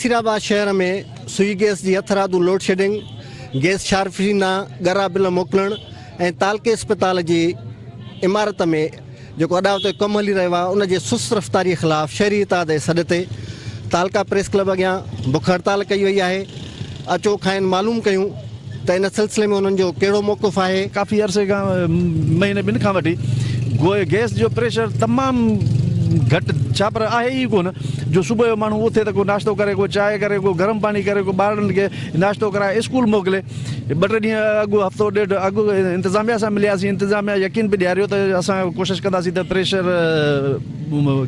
نصير آباد شهر ۾ سوئي گيس جي هٿرادو لوڊشيڊنگ، گيس شارفينا ڳرا بل موڪلڻ ۽ تعلقي اسپتال جي عمارت ۾ جيڪو اڏاوتو ڪم هلي رهيو آهي ان جي سست رفتاري خلاف شهري اتحاد جي سڏ تي تعلقه پريس ڪلب اڳيان بک هڙتال ڪئي وئي آهي اچو کانئن معلوم ڪيون ته ان سلسلي ۾ انهن جو ڪهڙو موقف آهي؟ ڪافي عرصي کان مهيني ٻن کان وٺي گيس جو پريشر تمام گهٽ ڇاپر آهي ئي ڪونه جو صبح جو ماڻهو اٿي ته ڪو ناشتو ڪري ڪو چانهه ڪري ڪو گرم پاڻي ڪري ڪو ٻارڙن کي ناشتو ڪرائي اسڪول موڪلي ٻه ٽي ڏينهن اڳ هفتو ڏيڍ اڳ انتظاميه سان ملياسين انتظاميه يقين به ڏياريو ته اسان ڪوشش ڪنداسين ته پريشر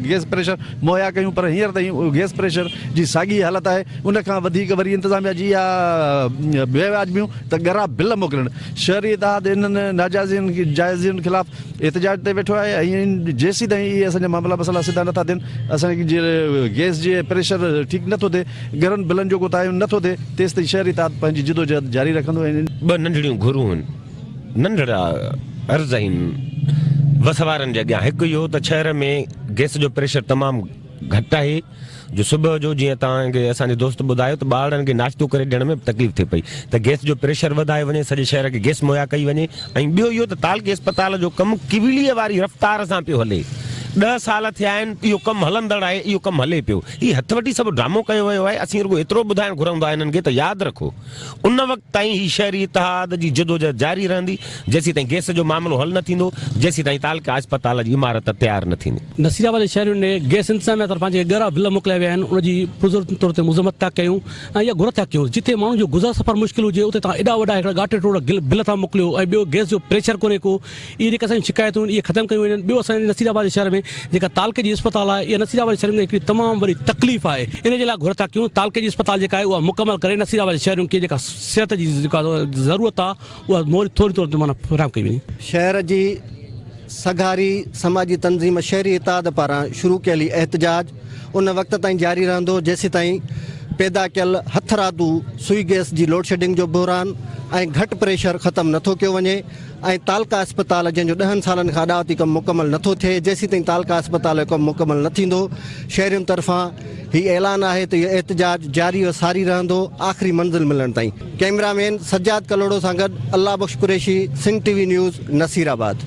گيس پريشر مهيا ڪيون پر هينئر تائين گيس پريشر جي ساڳي حالت آهي ان کان وڌيڪ وري انتظاميا جي اها بي وياج بيون ته ڳرا بل موڪلڻ. شهري اتحاد انهن ناجائزين جائزين خلاف احتجاج تي ويٺو آهي ۽ جيسيتائين اهي اسان جا معاملا مسئلا سڌا نه ٿا ٿين، اسان جي گئس جي پريشر ٺيڪ نه ٿو ٿئي، ڳرن بلن جو ڪو تعين نه ٿو ٿئي تيستائين شهري اتحاد پنهنجي جدوجهد جاري رکندو ۽ ان. ٻه ننڍڙيون گهرون هن ننڍڙا عرض هن وس وارن جي اڳيان هڪ اهو ته شهر ۾ گئس جو پريشر تمام گهٽ آهي. جو صبح جو جيئن توهان کي اسان جي دوست ٻڌايو ته ٻارڙن کي ناشتو ڪري ڏيڻ ۾ به تڪليف ٿئي پئي ته گيس جو پريشر وڌايو وڃي سڄي شهر کي گيس مهيا ڪئي وڃي ۽ ٻيو اهو ته تعلقي اسپتال جو ڪم ڪيولي واري رفتار سان پيو هلي ڏهه سال ٿيا آهن اهو ڪم هلندڙ آهي اهو ڪم هلي پيو هي هٿ وٺي سڀ ڊرامو ڪيو ويو آهي اسين رڳو ايترو ٻڌائڻ گهرندو آهي هنن کي ته ياد رکو ان وقت تائين هي شهري اتحاد جي جدوجهد جاري رهندي، جيسيتائين گئس جو معاملو حل نه ٿيندو، جيسيتائين تعلقه اسپتال جي عمارت تيار نه ٿيندي. نصير آباد جي شهرين ڏي گئس انتظاميا طرفان جيڪي ڳرا بل موڪليا ويا آهن، ان جي پرزور طور تي مذمت ٿا ڪيون ۽ اها گهر ٿا ڪيون، جتي ماڻهن جو گذر سفر مشڪل هجي، اتي توهان ايڏا وڏا هڪڙا ڳاٽي ٽوڙا بل ٿا موڪليو ۽ ٻيو گئس جو پريشر ڪونهي ڪو، اهي جيڪي اسانجون شڪايتون آهن اهي ختم ڪيون وڃن ٻيو اسان جي نصير آباد شهر ۾ جيڪا تعلقي جي اسپتال آهي اها نصير آباد شهر ۾ هڪڙي تمام وڏي تڪليف آهي ان جي لاء گهر ٿا ڪيون تعلقي جي اسپتال جيڪا آهي اها مڪمل ڪري نصير آباد شهرين کي جيڪا صحت جي جيڪا ضرورت آهي اها موري ٿوري طور تي معنيٰ فراهم ڪئي وڃي. شهر جي سگهاري سماجي تنظيم شهري اتحاد پاران شروع ڪيل هي احتجاج ان وقت تائين جاري رهندو جيسيتائين پيدا ڪيل هٿرادو سوئي گئس جي لوڊشيڊنگ جو بحران ۽ گهٽ پريشر ختم نٿو ڪيو وڃي ۽ تعلقه اسپتال جنهن جو ڏهن سالن کان اڏاوتي ڪم مڪمل نٿو ٿئي جيسيتائين تعلقه اسپتال جو ڪم مڪمل نه ٿيندو شهرين طرفان هي اعلان آهي ته اهو احتجاج جاري و ساري رهندو آخري منزل ملڻ تائين ڪئميرا مين سجاد ڪلهوڙو سان گڏ Allah Bakhsh Qureshi Sindh T V news Naseer آباد.